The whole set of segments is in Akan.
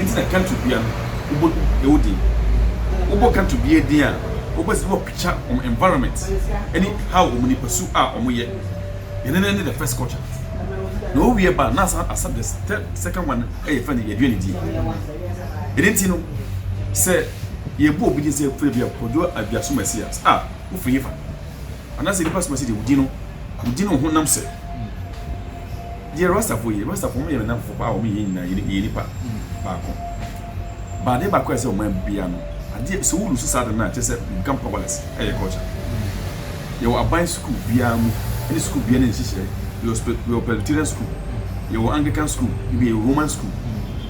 Enti na Kanto bea no wobɔ ɛwɔ din. Wobɔ Kanto bea din a wobɛsɛ wɔ picture wɔn environment ɛne how wɔn nipa su a wɔn yɛ. Yɛn nɛnɛ ne the first culture. Na wo wiɛ ba na asan accept the third second one ɛyɛ yɛfrɛ no yɛduane die. Ɛne nti no sɛ yɛbɔ obi din sɛ ɛfrɛ bi a Kwadwo Aduaso Messias a wofiri hefa? Anaasɛ nnipa soma sɛ deɛ wodi no, wodi no honam sɛ. Deɛ Rastafo yɛ, Rastafo wɔn yɛ nnamfo paa, wɔn yɛ yɛn nyinaa, yɛ nipa baako. But adeɛ baako a ɛsɛ wɔn bia no, adeɛ sɛ wo lose saa de no a, kyerɛ sɛ you become powerless. Ɛyɛ culture. Yɛwɔ aban sukuu biara mu, ɛne sukuu biara ne nhyehyɛe. Yɛwɔ Presbyterian school, yɛwɔ Anglican school, ebi yɛ Roman school.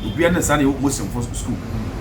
Obiara ne saa na yɛwɔ Muslimfo school.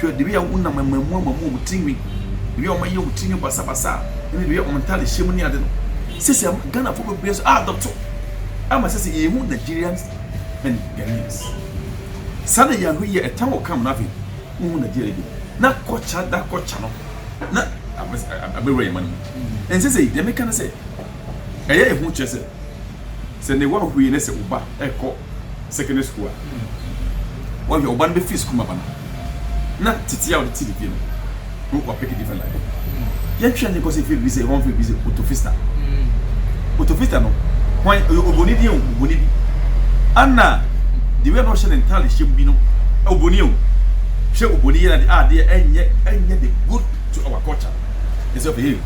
Hwɛ, dibea a wonam amammui amammui wɔn tirinwi, dibea a wɔayɛ wɔn tirinwi basabasa, ɛne dibea a wɔn ntade hyɛ mu ne ade no. Sɛ sɛ Ghanafo bebree nso a dɔto ama sɛ sɛ yɛhu Nigerians and Ghanaians. Saa na yɛn ano yɛ ɛtan wɔ kam no afei wohu Nigeria bi na kɔkya da kɔkya no na abɛwura yɛn ma no mu. Ɛnsɛ sɛ deɛ meka ne sɛ Ɛyɛ ehu kyerɛ sɛ sɛ ne wa hui ne sɛ wo ba ɛkɔ secondary school a wɔhwɛ ɔba no bɛ fi sukuu ma ba no na titi a wɔde ti ne fie no no wa pick different life yɛn twɛn ne kɔsi firi bi sɛ wɔn firi bi sɛ otofista otofista no wɔn ɔyɛ oboni bi o oboni bi ana the way na ɔhyɛ ne ntaade hyɛ mu bi no oboni o hyɛ oboni yɛ na de adeɛ ɛnyɛ ɛnyɛ the good to our culture ɛsɛ ɔpɛ yɛ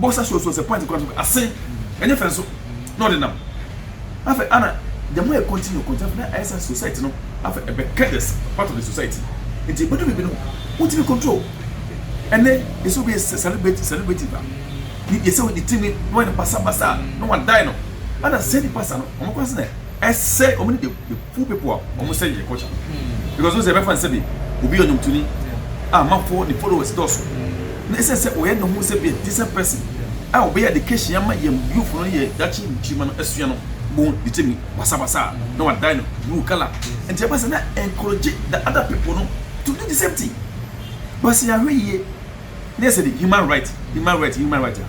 bɔ sa suasua sɛ point kora no so ase ɛnyɛ fɛ nso na ɔde nam afɛ ana the more I continue continue na ayɛ sɛ society no afɛ ɛbɛ kɛdɛs part of the society nti ɛbɛdu biribi no wontumi control ɛnɛ yɛsɛ obi yɛ celebrity celebrity ba ne yɛsɛ wo ne timi na wɔyɛ no basabasa na wɔadae no ana sɛ nipa sa no wɔn kora sɛ na ɛsɛ wɔn ne de Full people a wɔn sɛ yɛ culture no because wɔn sɛ yɛbɛfa no sɛbi obi yɛ ɔnwomtoni a amanfoɔ ne followers dɔɔso na ɛsɛ sɛ ɔyɛ ne ho sɛ bi a decent person a ɔbɛyɛ education ama yɛn youth no ne yɛ dakye nkyirima no asua no bon ne timi basabasa a na wadan no blue colour nti ɛba sɛ na encourage the other people no to do the same thing but sɛ yɛahwɛ yie na yɛ sɛ de human right human right human right a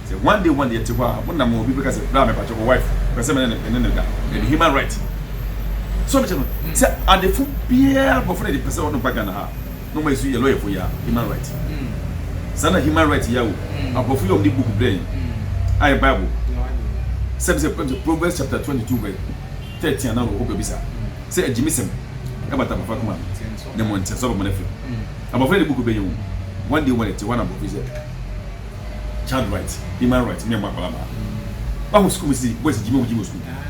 sɛ one day one day yɛte hɔ a mo nam obi bɛka sɛ bra me pakyɛ wɔ wife pɛ sɛ mene ne ne da ɛde human right so mekyɛ no sɛ adefo biara bɔfo no de pɛ sɛ ɔno ba Ghana ha na ɔma ɛsu yɛ lɔyɛfo yɛ human right saa na human right yɛ o aborɔfo yɛ ɔm de book brɛ ayɛ bible sɛ sɛ Proverbs chapter 22 verse 13 anaa wɔ hɔ baabi saa sɛ agyimisɛm ɛbata bafa koma ne mo ntɛ sɛ ɔbɛmɔ no afiri Abɔfra de buku bɛyɛ hu. One day wɔn ɛte hɔ na abɔfra sɛ child right human right mmea mma akwadaa mmaa. Wahu sukuu mu si boys gyimi wɔn gyimi wɔ sukuu mu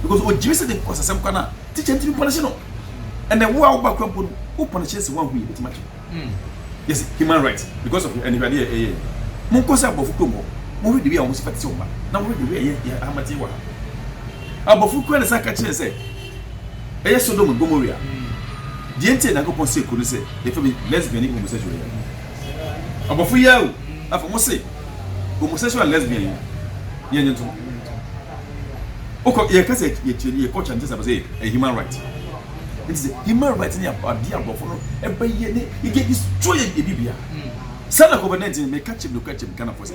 because ogyimi sɛ de kɔsasɛm kwan a teacher ntumi pɔnɛhyɛ no ɛnɛ wo a woba kura mpo no wo pɔnɛhyɛ sɛ wɔahu yɛ bɛtumi akyɛ hmm. yes human right because of aniwadeɛ eh, ɛyɛ eh, eh. mo nkɔ sɛ abɔfo kurom hɔ mo hwɛ de wi a wɔn si pɛte sɛ wɔn ba na wɔn hwɛ de wi a yɛ yɛ ahamate wɔ ha abɔfo kura ne sa ka kyerɛ sɛ Ɛyɛ Sodom and Gomoria. Deɛ nti a Nyankopɔn see kuro no sɛ yɛfɛ bi lesbian ne homosexual yi no, ɔbɔfo yi ara o, afei ɔmo se homosexual and lesbian yi yɛ nye ntom. Wokɔ, yɛ kasa yɛ kyerɛ yɛ culture nkyɛn sɛ abɛsɛ yɛ human right. Nti sɛ human right ne adeɛ aborɔfo no ɛbɛyɛ ne yɛ destroy yɛ bibia. Saa na COVID-19 meka kyerɛ no kura kyerɛ Ghanafoɔ sɛ.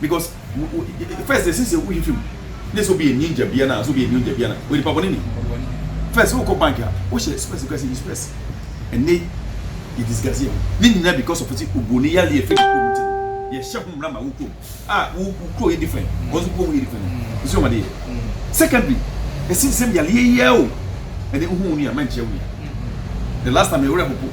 because first ɛsɛ sɛ wohwɛ fim ne sɛ obi yɛ ninja bia na sɛ obi yɛ ninja bia na oyɛ nipa bɔne ni first wokɔ bank a wohyɛ spɛs kura sɛ yi spɛs ɛnɛ yɛ disgase ho ne nyina because of sɛ obroni yale yɛfɛ ne kurom nti yɛhyɛ ho mmara ma wo kurom a wo kuro yɛ different wɔn nso kurom yɛ different ɛsɛ wɔn adeɛ secondly ɛsɛ sɛ yaleɛ yɛ o ɛnɛ wohu wo nua mankyerɛ wo nua the last time ɛwerɛ hopo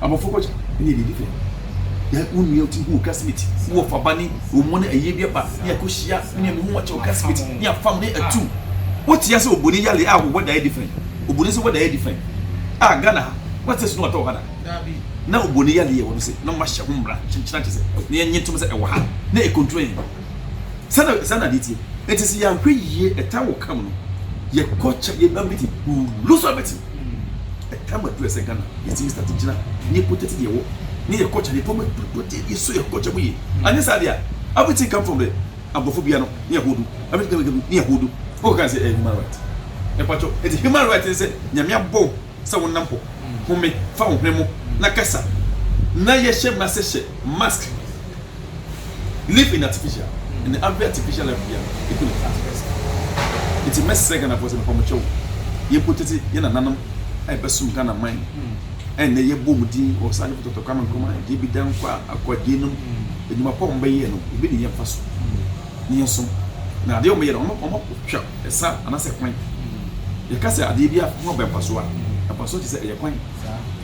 Abɔfo kɔ kyɛ ne yɛ didi fɛ. Yɛ wo nua ti hu classmate wo wɔ faba ne wo mu ne ɛyɛ bi aba ne yɛ kɔ hyia ne yɛ ho wɔkyɛ wo classmate ne yɛ fam ne atu. Wo te ase oboni yale a wo wɛda yɛ different. Oboni se wɛda yɛ different. A Ghana ha wo te snow atɔ hɔ da. Na oboni yale yɛ wɔ no se na wɔn ahyɛ ho mmra kyenkyena kyɛ sɛ ne yɛ nye tom sɛ ɛwɔ ha na ɛkontrol yɛn. Sɛ na sɛ na adeɛ tie. Ɛti se yɛ ahwɛ yie ɛta wɔ kam no yɛ kɔ kyɛ yɛ ba meeting we will lose everything. Ɛtam adu ɛsɛ Ghana yɛtumi start gyina ne yɛkɔ tete deɛ wɔ ne yɛkɔ kyɛ ne fam adudu deɛ yɛso yɛkɔ kyɛ mu yie anyɛ saa deɛ everything come from the aborɔfo bia no ne yɛhodo everything come from ne yɛhodo wokɔ kan sɛ ɛyɛ human right ɛpatwɔ ɛti human right ne sɛ nyame abɔ sɛ wonam hɔ home fa wo hwene mo na kasa na yɛhyɛ ma sɛ hyɛ mask live in artificial ɛnna abrɛ artificial life bi a eku ne class pɛ saa nti mɛsrɛ ghanafoɔ sɛ mepa mo kyɛw yɛn protect yɛn nananom a yɛbɛsom ghana man ɛnna yɛbɔ mu din wɔ saa nipa tɔtɔ kwame nkrumah deɛ bi dan kɔ a akɔ adie nom edwuma pa wɔn bɛyɛ no ebi ne yɛn fa so ne yɛn som na adeɛ wɔn bɛyɛ no wɔn wɔn twɛ ɛsa anasɛ kwan yɛka sɛ adeɛ bi a ho abɛn mfaso a mfaso te sɛ ɛyɛ kwan.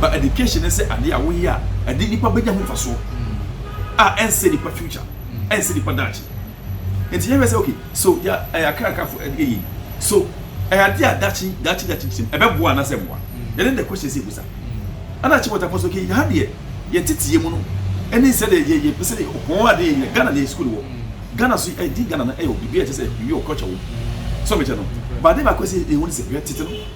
But education ne sɛ adeɛ a woyɛ a ɛde nipa bɛnya ho mfasoɔ a ɛnsɛ nipa future ɛnsɛ nipa daakye nti yɛhwɛ sɛ okay so yɛ ɛyɛ akrakafo ɛdeɛ yɛ so ɛyɛ adeɛ a daakye daakye daakye kyerɛm ɛbɛboa anaasɛ mmoa yɛne the question sɛ ebusa ɛna akyi wɔtafo so okay ha deɛ yɛ tete yɛ mu no ɛne sɛ deɛ yɛ yɛ pɛsɛ wɔn adeɛ yɛ Ghana deɛ school wɔ Ghana so ɛdi Ghana na ɛyɛ obi bi ɛkyɛ sɛ ebi wɔ culture wɔ so mekyɛ no baade baako sɛ ehu ne sɛ yɛ tete no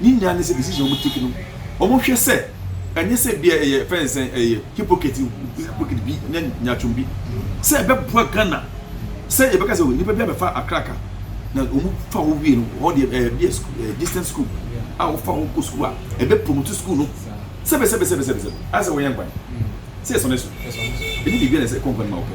Ne nyinaa ne sɛ besi sɛ wɔn tiki no wɔn hwɛ sɛ ɛnyɛ sɛ bia ɛyɛ fɛn sɛn ɛyɛ hypocrite hypocrite bi ne nyatwom bi sɛ ɛbɛboa Ghana sɛ yɛbɛka sɛ nipa bi abɛfa akraka na wɔn fa hɔ wie no hɔ deɛ ɛɛ bi ɛɛ distance school a wɔfa hɔ kɔ school a ɛbɛ promote school no sɛbɛsɛbɛsɛbɛsɛbɛ asɛ wɔyɛ nkwan sɛ ɛsɔne so ɛni biribi na ɛsɛ kɔnkɔn ma wɔpɛ.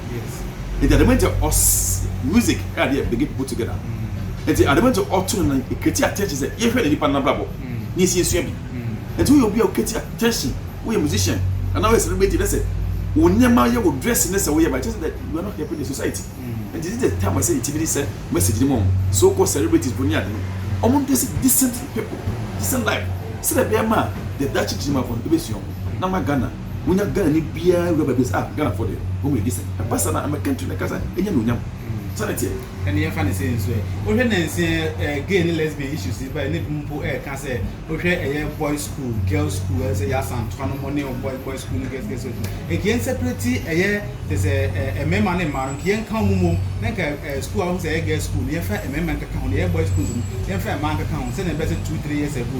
Yes. Nti adama nti ɔs music ɛna de yɛ bring people together. Nti adama nti ɔto no na ɛkreti attention sɛ yɛhwɛ ne nipa no n'abrabɔ na yɛsi yɛsua bi. Nti woyɛ obi a wokreti attention, woyɛ musician anaa woyɛ celebrity na sɛ wo nneɛma yɛ wo dress ne sɛ woyɛ ba ɛkyerɛ sɛ that you are not helping the society. Nti this is the time a ɛsɛ yɛtumi de sɛ message no ma wɔn so called celebrities fo ne ade no wɔn nte sɛ decent people, decent life sɛdeɛ ɛbɛyɛ ma a deɛ daakye gyina mu afoɔ no ɛbɛsua wɔn na ama Ghana wonya Ghanani biara wura baabi a ɔsɛ ah Ghanafoɔ deɛ wɔn yɛ decent. Ɛba saa no a ɛma country no ankasa nya anuonyam. Saa na ɛteɛ. Ɛnna yɛmfa no sei nso ɛ, wohwɛ nnansa yi a gay ne lesbian issues yi baeɛ na ebinom mpo reka sɛ wohwɛ ɛyɛ boys school, girls school ayɛ sɛ ɛyɛ Asantefoɔ no mo ne wɔn boys boys school ne girls girls school. Nka yɛn separate ɛyɛ te sɛ ɛ mmarima ne mmaa no nka yɛn nka wɔn mmom na nka ɛ school a wohu sɛ ɛyɛ girls school no yɛmfa mmarima nkeka ho, nea ɛyɛ boys school nso no yɛmfa mmaa nkeka ho sɛdeɛ ɛbɛyɛ sɛ two three years ago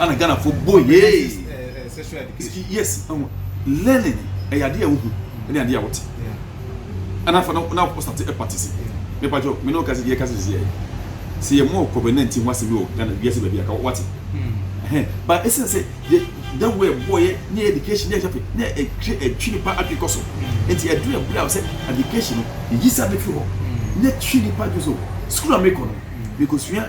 ana Ghanafoɔ bɔ yee yes ɛho learning ɛyɛ adeɛ a wohu ɛne adeɛ a wote ana fa na wokɔ sate ɛpatisi mepa kyɛw me ne ɔkase deɛ ɛkase sisi ɛyɛ sɛ yɛ mɔɔ kɔbɛ na nti ho asɛm bi wɔ Ghana wiase baabi aka wate ɛhɛn ba ɛsɛn sɛ yɛ da wo ɛbɔ yɛ ne education ne ɛhwɛ pe ne ɛtwe ɛtwe nipa adwe kɔ so nti ɛduru ɛbrɛ a sɛ education no yɛ yi sa bɛfiri hɔ ne twe nipa adwe so sukuu a mekɔ no mekɔ sua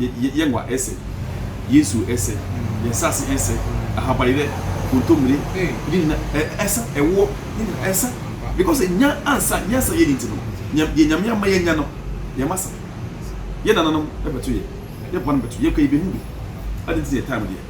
yɛ yɛ ngua ɛsɛ yɛ nsuo ɛsɛ yɛ nsase ɛsɛ ahaban yɛ kontomire yɛ nyina ɛ ɛsa ɛwoɔ yɛ nyina ɛsa because enya ansa nyansa yɛ ni nti no nyɛ deɛ nyame ama yɛ nya no yɛ ma sa yɛ nananom ɛbɛto yɛ yɛ boanom bɛto yɛ kɔ yɛ bɛ hu bi adi nti yɛ time deɛ.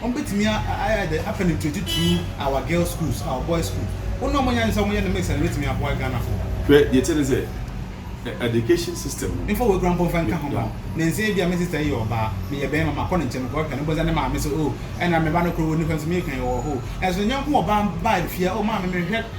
Wɔbɛtumi ayɛ dɛ apɛ no tititiriw our girls schools, our boys school. Wɔn na wɔanya adwene sɛ wɔyɛ no mix a ɛbɛtumi aboa Ghanafoɔ. Hwɛ deɛ ɛteɛ ne sɛ education system no. Memfa w'akura mpo mfa nka ho ma wo. Nnansa yi bi a me sister yi yɛ ɔbaa, meyɛ bɛrima, makɔ ne nkyɛn, mekɔhwehwɛ no, mpo sɛ ne maame sɛ oh, ɛna me ba no koro wɔ nifa nso meka yi ɔwɔ hɔ o. Nanso ne yɔnko ɔbaa bae fie a, oh maame, menhwɛ.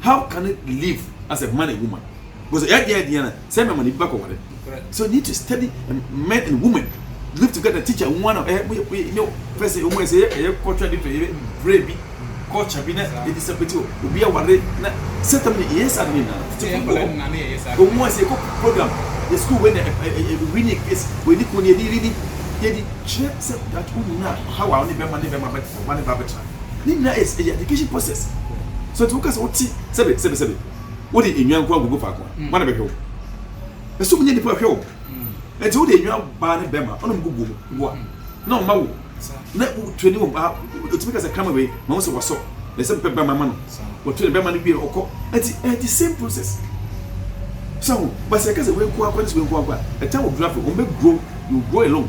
how can it live as a man and woman because ɛyɛ deɛ ɛdeɛ na sɛ mɛma ne bi bakɔ ware so need to study men and women live together teacher nwa na ɛyɛ mo yɛ nyɛ fɛsɛ ɔmo ɛsɛ yɛ ɛyɛ culture different yɛ brɛ bi culture bi na ɛdi sɛ pɛtɛ obi aware na sɛtɛm ne ɛyɛ saa ne na ɔmo ɛsɛ ɛkɔ program yɛ school wɛ na ɛwi ne case wɛ ne kɔn yɛ di yɛ di yɛ di kyerɛ sɛ that wo nyina how a ɔne bɛma ne bɛma bɛtena ɔba ne ba bɛtena. Ne nyinaa yɛ ɛyɛ education process. So nti woka sɛ wote sɛbe sɛbe sɛbe wode nnwa nko agogo faako a wana bɛhwɛ wo? Ɛsɛ omu nyɛ nipa hwɛ wo. Nti wode nnwa baa ne bɛma ɔna ɔmo gugu mu boa na ɔma wo na wotu ani wɔ baa otumi ka sɛ krama wei ma wo sɛ wasɔ na ɛsɛ mepɛ bɛma ma no wɔtu ne bɛma no wie ɔkɔ nti ɛyɛ the same process. So ho basa ɛka sɛ wei nko akɔ ne sɛ wei nko akɔ a ɛta wɔ dura fɛ ɔmo bɛ grow you grow alone.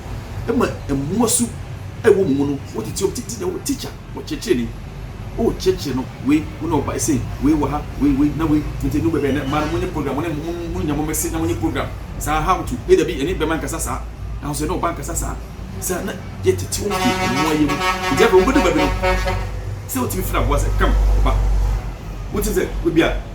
ma mmoa su a ɛwɔ mo mu no, wo tete obi tete nyɛ wo teacher, wo kyerɛkyerɛni. O kyerɛkyerɛ no, wei, wo ne ɔba sei, wei wɔ ha, wei, wei, na wei. Nti ɛnu baabi a ɛnɛ mmaa no monyɛ program, mo ne mo, mo, mo nya mo mmese na monyɛ program saa how to, ei dabi, ɛne bɛma nkasa saa, nanso ɛne ɔba nkasa saa. Saa na yɛ tete wɔn fi mmoa yɛ mu. Nti afei wɔn bɛdu baabi no, sɛ wotumi frɛ aboa sɛ, come, ba. Wotim sɛ, ebia.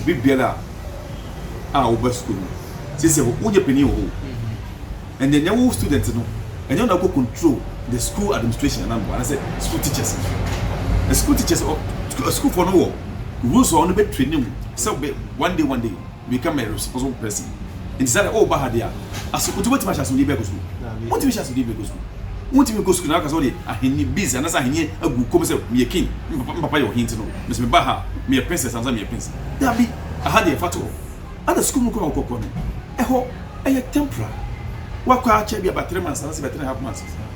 obi biara a ɔba sukuu no sisɛ wonyɛ panyin wɔ hɔ ɛnyɛ nyɛ wo student no ɛnyɛ ɔna kɔ control the school administration anaa mmoa anasɛ school teachers no school teachers sukuufoɔ no wɔ rules a ɔno bɛtire ne wo sɛ one day one day become a responsible person nti sɛ o ba ha deɛ aso o ti wotumi ahyɛ asomdie bɛɛ kɔ sukuu wotumi hyɛ asomdie bɛɛ kɔ sukuu wotumi kɔ sukuu na aka sɛ ɔde ahenni biz anasɛ ahenni agu kɔm sɛ meyɛ king mpapa mpapa yɛ ɔhen ti no mesi me ba ha meyɛ princess anasɛ meyɛ prince dabi aha deɛ fa to hɔ ana sukuu mu kɔ a wokɔkɔ no ɛhɔ ɛyɛ temporal wakɔ akyɛ bi abatere ma nsa na sɛ bɛtere half months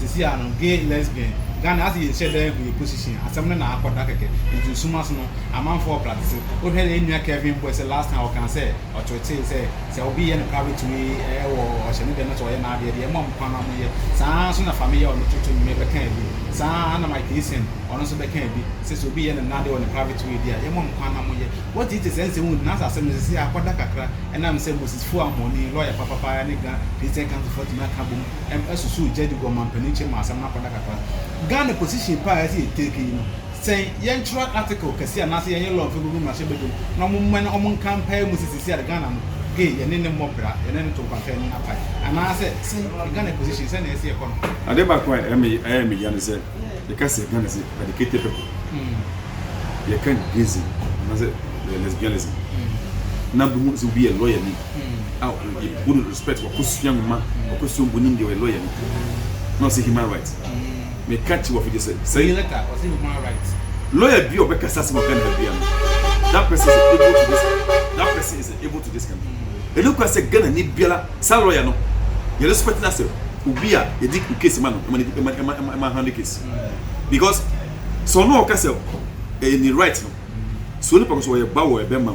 Sisi a no gay lesbian Ghana ase yɛ nhyɛ da ehu yɛ position asɛm no na akɔ da kɛkɛ nti nsuma so no amanfoɔ wɔ prate se wo hwɛ yɛn nua Kevin boy sɛ last time ɔkaa sɛ ɔkyerekyere sɛ sɛ obi yɛ no private way ɛɛ wɔ ɔhyɛ ne dɛm na sɛ ɔyɛ n'adeɛ deɛ mo a mo kwan na mo yɛ saa ara nso na Fame yɛ ɔno toto nwuma yi bɛkaa bi saa ara na Mike Eason ɔno nso bɛkaa bi sɛ sɛ obi yɛ no n'adeɛ wɔ ne private way deɛ a yɛ mo a mo kwan na mo yɛ what it is ɛnsɛ wohu nanso asɛm no sisi akɔ da kakra ɛnam sɛ Moses Fuah Ahoni lawyer papa paa ne Ghana Christian council foɔ atumi aka abom ɛm ɛsusu Gyadi wɔ manpanin kyɛm mu asɛm no akɔda kakra. Ghana position paa a ɛsɛ yɛ take yi no, sɛ yɛntwerɛ article kɛseɛ anaasɛ yɛnyɛ law mfa gugu mmarahyɛ badwa mu na ɔmo mmɔ na ɔmo nka mpae mu sɛ seesei ara Ghana no gay yɛne no mmɔ bra, yɛne no to nkwanka yɛne no apae anaasɛ sɛ Ghana position sɛnea ɛsɛ yɛkɔ no. Adeɛ baako a ɛma me ɛyɛ me ya ne sɛ yɛka sɛ Ghana sɛ educated people yɛka gayism anaasɛ lesbianism na bi hu sɛ obi yɛ lawyer ni. a ɔyɛ Burundi respect wakɔsua nwoma wakɔsua mbɔni mu deɛ ɔyɛ lawyer no na ɔsɛ human right meka kye wɔfo gye sɛ sɛ lawyer bi a ɔbɛkasa asɛm ɔka ne ha bia no that person is able to this that person is able to this country ɛno kora sɛ Ghana ni biara saa lawyer no yɛ respect no asɛ obi a yɛdi case ma no ɛma handle case because sɛ ɔno ɔka sɛ ɛyɛ ne right no so nipa ko sɛ ɔyɛ ba wɔ ɛbɛma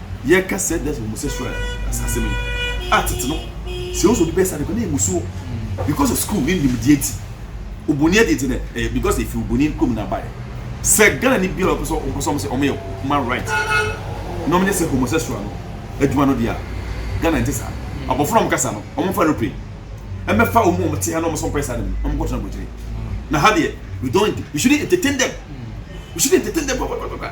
Yɛka sɛ that's homosexual asase mi a tete no sɛ woso de bɛyɛ saa nìkan na emusuo because of school ne nimdeɛ ti oboni adi ti na ɛyɛ eh, because efi oboni kom na abaeɛ sɛ Ghana ni bi a ɔpɛ sɛ ɔmpɛ sɛ ɔmo sɛ ɔmo yɛ human right na ɔmo nyɛ sɛ homosexual no adwuma no deɛ Ghana nti saa abɔfra ɔmo kasa no ɔmo fa aeroplane ɛmɛfa ɔmo ɔmo te ha na ɔmo sɛ ɔmo pɛ saa dɛm ɔmo kɔtena aburokyire na ha deɛ we don't we shouldn't entertain them we shouldn't entertain them blah blah blah blah